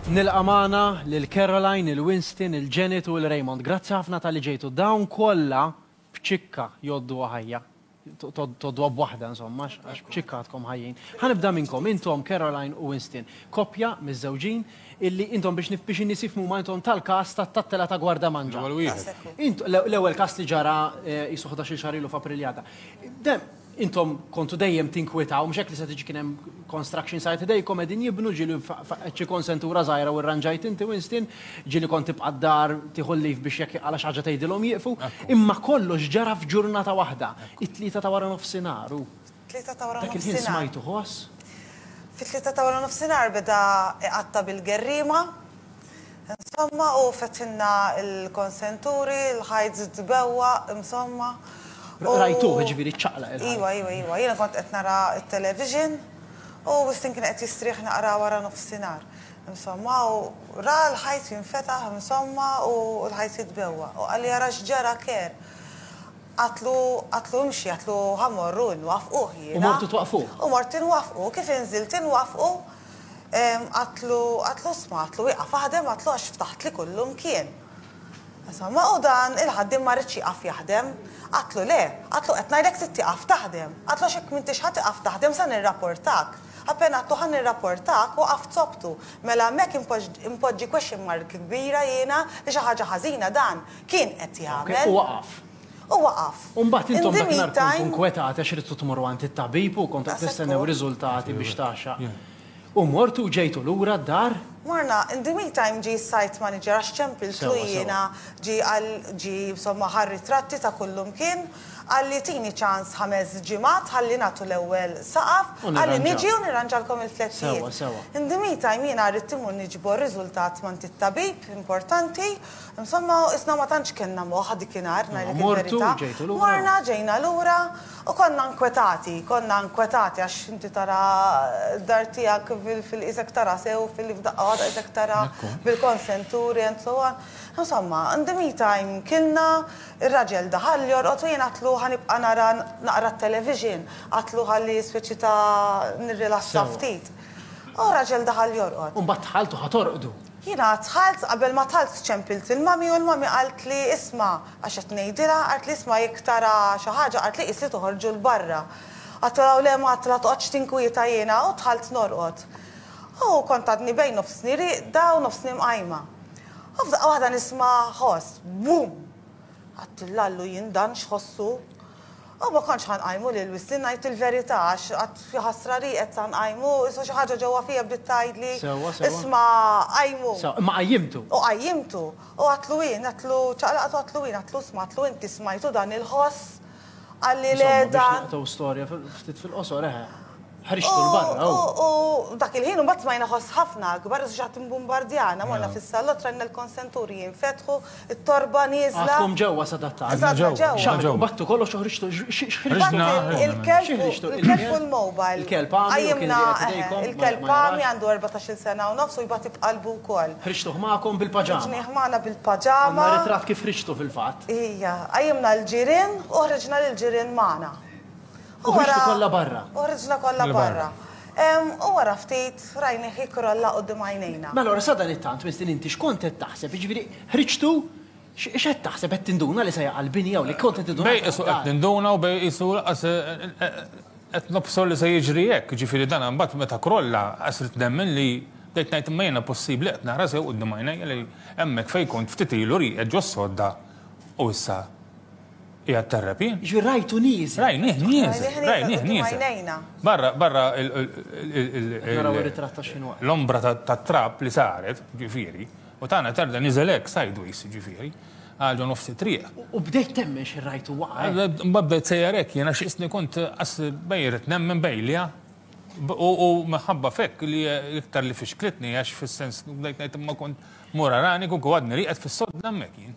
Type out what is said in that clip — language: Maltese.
Nilqa' magħna lil Caroline, il-Winston, il-Janet u l-Raymond. Grazzi ħafna tal-li ġejtu. Dawn kollha b'ċikka joddu ħajja. Toddu għab waħda, insomma, għax b'ċikka għadkom ħajjin. Ħanibda minnkom, intom Caroline u Winston. Koppja, miż-żewġin, illi intom biex nif biex in-nies jifhmu huma intom tal-każ tat-tattela ta' Gwardamanġa. L-ewwel wieħed. Każ ekku. Int- l- L-ewwel każ li ġara eh, qisu ħdax-il xahar ilu f'April li għadda. Dem, intom kontu dejjem tinkwitaw, mhux hekk li se tiġi kien hemm construction site idejkom qegħdin jibnu ġieli fa- fa- qed xi konsentura żgħira u rranġajt inti Winston, ġieli kont tibqa' d-dar tieħu l-leave biex jekk għala xi ħaġa tgħidilhom jieqfu. Imma kollox ġara f'ġurnata waħda, it-Tlieta ta' wara nofsinhar u Tlieta ta' wara nofsinhar. Dak il-ħin smajtu ħoss. Fit-tlieta ta' wara nofsinhar beda iqatta' bil-gerriema. Insomma, hu fetħilna l-konsenturi, l-ħajt żied bewwaq, insomma. Rajtuh, jiġifieri ċċaqlaq il-ħajt. Iva, iva, iva. Jiena kont qed nara t-television u Wistin kien qed jistrieħ naqra wara nofsinhar. Insomma, hu ra l-ħajt jinfetaħ, insomma, u l-ħajt jitbewwaq. Hu qalli ara x'ġara Kerr. Għatlu, għatlu imxi, għatlu ħa mmorru inwaffquh jiena. U mortu twaqqfuh? U mort inwaffqu, kif inżilt inwaffqu, għatlu, għatlu isma', għatlu wieqaf aħdem, għatlu għax ftaħtli kullu mkien. Insomma, u dan il-ħaddiem ma riedx jieqaf jaħdem. Għatlu le, għatlu qed ngħidlek trid tieqaf taħdem, għatlu għax jekk m'intix ħa tieqaf taħdem sa nirraportak. Appena għatlu ħa nirraportak, waqaft soptu. Mela hemmhekk inpoġġi question mark kbira jiena li xi ħaġa ħażina dan Kien qed jagħmel. U waqaf. U waqaf. U mbagħad intom dak nhar kontu nkwetati għax ridtu tmorru għand it-tabib u kontu qed tistennew riżultati biex tagħxaq. U mortu u ġejtu lura d-dar? Morna. In the meantime ġie s-site manager għax ċempiltlu jiena, ġie qal, ġie insomma ħa r-ritratti ta' kullimkien, qalli tini ċans ħames ġimgħat ħalli nagħtu l-ewwel saqaf, qalli niġi u nirranġalkom il-flettijiet. In the meantime jiena ridt immur niġbor riżultat m'għand it-tabib importanti Insomma, isna ma tantx kellna moħħ dik inhar, ngħidlek il-verità. Morna, ġejna lura u konna nkwetati, konna nkwetati għax inti tara d-dar tiegħek fil-qisek tara sew, fil-fdaqqa waħda qisek tara bil-konsenturi and so on. Insomma, in the meantime kilna, ir-raġel daħal jorqod u jien għadtlu ħa nibqa' nara naqra t-television, għadtlu ħalli speċi ta' nirrilassa ftit. U r-raġel daħal jorqod. U mbagħad dħalt u ħa torqdu. Jiena dħalt qabel ma talt ċempilt il-mami u l-mami qaltli isma' għax qed ngħidilha qaltli isma' jekk tara xi ħaġa qaltli qisli toħorġu 'l barra. Għadtilha u le ma għadtilha toqgħodx tinkwieta jiena u dħalt norqod. U kont għadni bejn nofsni rieqda u nofsni mqajma. U f'daqqa waħda nisma' ħoss, Bum! Għadt il-Lallu jien dan x'ħossu? Aw ma kontx ħa nqajmu lil Wisti ngħid il-verità għax qatt jaħasra li qed sa nqajmu, issa xi ħaġa ġewwa fija bdiet tgħidli isma' qajmu. Sewwa, sewwa. Imma qajjimtu. U qajjimtu. U għadtlu jien, għadtlu, ċaqlaqt u għadtlu jien, għadtlu isma' għadtlu inti smajtu dan il-ħoss? Qalli le dan. Insomma biex naqtgħu storja ftit fil-qosor, eħe. Ħriġtu l-barra u. U dak il-ħin u mbagħad smajna ħoss ħafna akbar għax ħadd imbumbardjana, morna fis-salott rajna l-konsenturi jinfetħu, it-torba nieżla. Għadkom ġewwa sadattant. Għadna ġewwa. X'għamiltu? Battu kollox u ħriġtu x'ħriġtu? Il-kelb u l-mobile. Il-kelb għami. Qajjimna il-kelb għami għandu 14-il sena u nofs u jbati b'qalbu wkoll. Ħriġtuh magħkom bil-paġama. Ħriġnieh magħna bil-paġama. Għandna ritratt kif ħriġtu fil-fatt. Ija. Qajjimna l-ġirien u ħriġna lill-ġirien magħna. U ħriġtu kollha barra. U ħriġna kollha barra. U wara ftit rajnih jikrolla quddiem għajnejna. Mela ora sadanittant, Winston, inti x'kont qed taħseb? Jiġifieri ħriġtu x'qed taħseb? Qed tinduna li se jaqa' l-bini hawn? Kont qed tinduna? Bejn qisu qed ninduna u bejn qisu lanqas qed nobsor li se jiġri hekk. Jiġifieri dan imbagħad meta krolla qas ridt nemmen li bdejt ngħid imma jiena possibbli qed nara sew quddiem għajnejja li hemmhekk fejn kont ftit ilu rieqed ġo s-sodda u issa Qiegħed tarrab jien? Jiġifieri rajtu nieżel. Rajnih nieżel. Rajnih nieżel. Barra, barra l-ombra tat-trab li saret, ġifieri, u tagħna tarda nieżel hekk sideways, ġifieri, għal ġo nofs it-triq. U bdejt temmen xi rajtu waqa'. Mbagħad bdejt sejjer hekk jien għax isni kont qas bejn irrid nemmen bejliha u minħabba f'hekk li iktar li fixklitni għax fis-sens bdejt ngħid imma kont mur arani kieku għadni rieqed fis-sodda hemmhekk jien.